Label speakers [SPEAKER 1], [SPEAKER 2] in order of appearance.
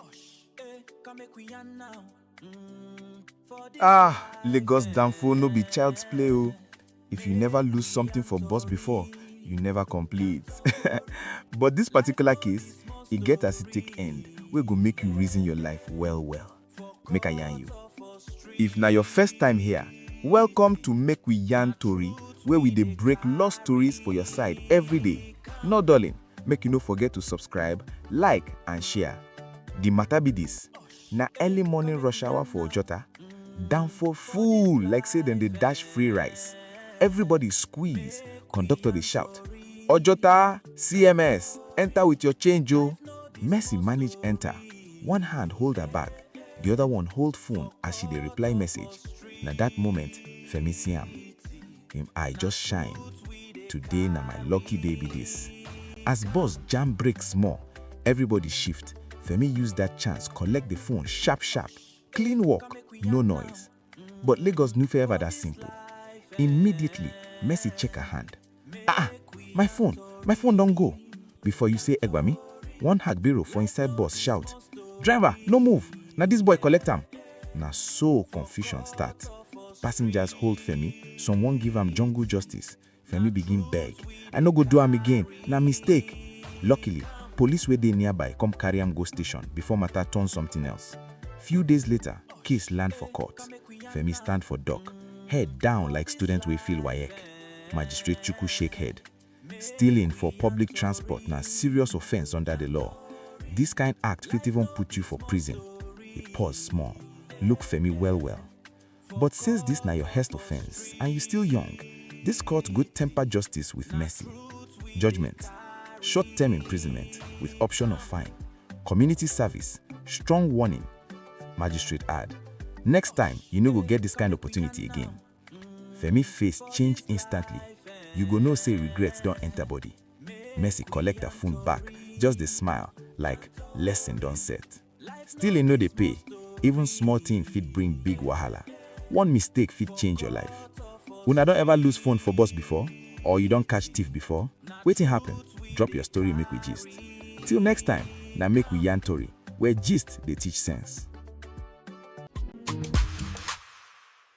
[SPEAKER 1] Osh, eh, come make we yarn now. Mm, for this Ah, life, Lagos eh, Danfo no be child's play o. If you never lose something for bus before, you never complete. But this particular case, e get as e take end wey go make you reason your life well well. Make I yarn you. If na your first time here, welcome to Make We Yarn Tori, where we dey break lost stories for your side every day. No dulling. Make you no forget to subscribe, like and share. The matter be this, na early morning rush hour for Ojota. Danfo full like say dem dey dash free rice. Everybody squeeze, conductor dey shout, Ojota, CMS, enter with your change o. Mercy manage enter, one hand hold her bag, the other one hold phone as she dey reply message. Na that moment Femi see am. him eye just shine, today na my lucky day be this. As bus jam break small, everybody shift, Femi use that chance collect the phone sharp sharp, clean work, no noise. But Lagos no fit ever that simple. Immediately, Mercy check her hand. Ah, ah, my phone, my phone don go. before you say egbami, one hagbiro for inside bus shout, Driver, no move, na this boy collect am. Na so confusion start. Passengers hold Femi, some wan give am jungle justice. Femi begin beg, I no go do am again, na mistake. Luckily, police wey dey nearby come carry am go station before matter turn something else. Few days later, case land for court. Femi stand for dock, head down like student wey fail WAEC. Magistrate Chukwu shake head. Stealing for public transport na serious offence under the law. This kind act fit even put you for prison. He pause small, look Femi well well. But since this na your hest offence and you still young, this court good temper justice with mercy. Judgment, short term imprisonment with option of fine, community service, strong warning. Magistrate add, next time you no go get this kind opportunity again. Femi face change instantly, you go know say regret don enter body. Mercy collect her phone back, just dey smile like lesson don set. Stealing no dey pay, even small thing fit bring big wahala. One mistake fit change your life. Una don ever lose phone for bus before? Or you don catch thief before? Wetin happen? Drop your story make we gist. Till next time, na make we yarn tori, where gist dey teach sense.